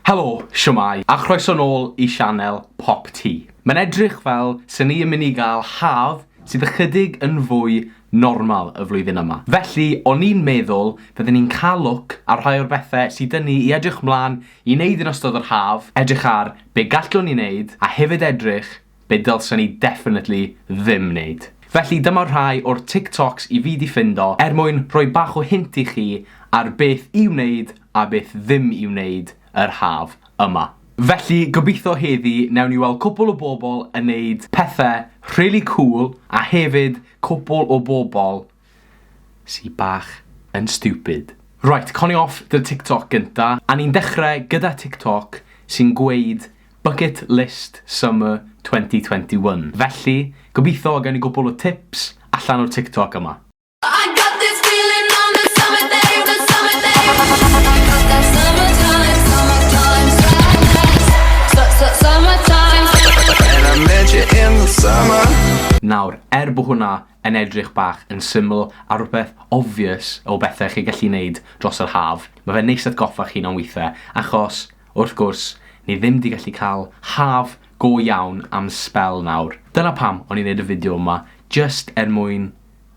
Helo, shwmae, a chroeso nôl i sianel Pop Ti. Mae'n edrych fel se ni yn mynd i gael haf sydd ychydig yn fwy normal y flwyddyn yma. Felly, o'n i'n meddwl fydden ni'n cael look ar rhai o'r bethe sy 'da ni i edrych mlan i neud yn ystod yr haf, edrych ar be gallwn ni neud, a hefyd edrych be dylsen i definitely ddim neud. Felly dyma rhai o'r TikToks i fi 'di ffindo er mwyn rhoi bach o hint i chi ar beth i wneud a beth ddim i wneud yr haf yma. Felly gobeithio heddi newn ni weld cwpwl o bobl yn neud pethe rhili cŵl a hefyd cwpwl o bobl Sy bach yn stupid. Right, conio off dy TikTok gynta. A ni'n dechre gyda TikTok sy'n gweud Bucket List Summer 2021. Felly, gobitho gawn ni gwpwl o tips allan o'r TikTok yma. I got this feeling on a summer day, on a summer day I got that summer time, summer time sadness Su-su-summer time And I met you in the summer Nawr, er bo hwnna yn edrych bach yn syml a rhywbeth obvious o bethe chi gallu neud dros yr haf, ma fe'n neis atgoffa'ch hun am withe, achos, wrth gwrs, ni ddim 'di gallu ca'l haf go iawn am sbel nawr. Dyna pam o'n i'n neud y fideo yma, jyst er mwyn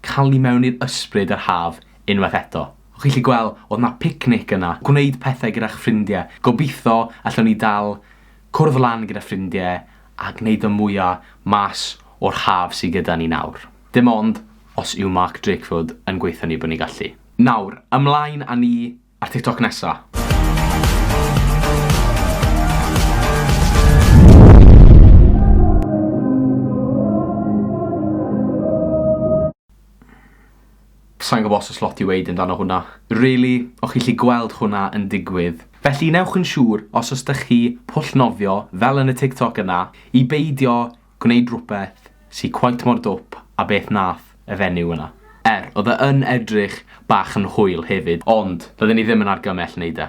ca'l ni mewn i'r ysbryd yr haf unwaith eto. O'ch chi 'llu gwel' o'dd 'na picnic yna, gwneud pethe gyda'ch ffrindie, gobitho allwn ni dal cwrdd lan gyda ffrindie a gwneud y mwya mas o'r haf sy gyda ni nawr. Dim ond os yw Mark Drakeford yn gweutho ni bod ni'n gallu. Nawr, ymlaen â ni a'r TikTok nesa! Sai'n gwybod os oes lot i weud amdano hwnna, rili, o'ch chi'n gallu gweld hwnna yn digwydd. Felly newch yn siŵr, os oes 'da chi pwll nofio, fel yn y TikTok yna, i beidio gwneud rhywbeth sy cweit mor dwp â beth wnaeth y fenyw yna. Er, oedd e yn edrych bach yn hwyl hefyd, ond doedden ni ddim yn argymell wneud e.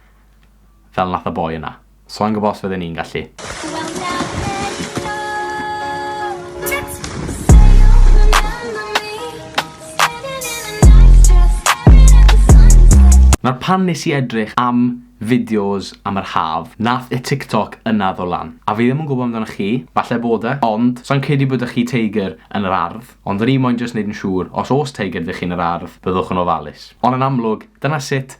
Fel nath y boi yna. So'n gwbo os fydden i'n gallu. Nawr pan nes i edrych am fideos am yr haf, nath y TikTok yna ddod lan. A fi ddim yn gwbo amdanoch chi, falle bod e, ond sai'n credu bod 'da chi teigr yn yr ardd, ond o'n i moyn jyst neud yn siŵr os o's teigr 'da chi yn yr ardd, byddwch yn ofalus. Ond yn amlwg, dyna sut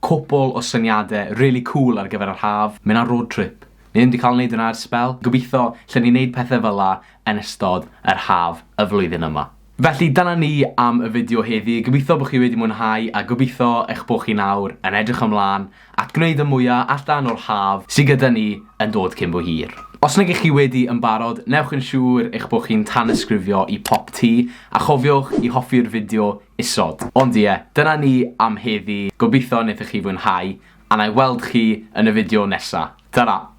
Cwpwl o syniade rili cŵl ar gyfer yr haf, mynd ar road trip. Ni ddim 'di cael neud hwnna ers sbel, gobeithio llen ni neud pethe fela yn ystod yr haf y flwyddyn yma. Felly dyna ni am y fideo heddi, gobeithio bo chi wedi mwynhau a gobeithio eich bo chi nawr yn edrych ymlan at gwneud y mwya allan o'r haf sy gyda ni yn dod cyn bo hir. Os nag ych chi wedi yn barod, newch yn siŵr eich bo chi'n tanysgrifio i Pop Tee a chofiwch i hoffi'r fideo isod. Ond ie, dyna ni am heddi, gobeithio wnaethoch chi fwynhau, a wna i weld chi yn y fideo nesa. Tara!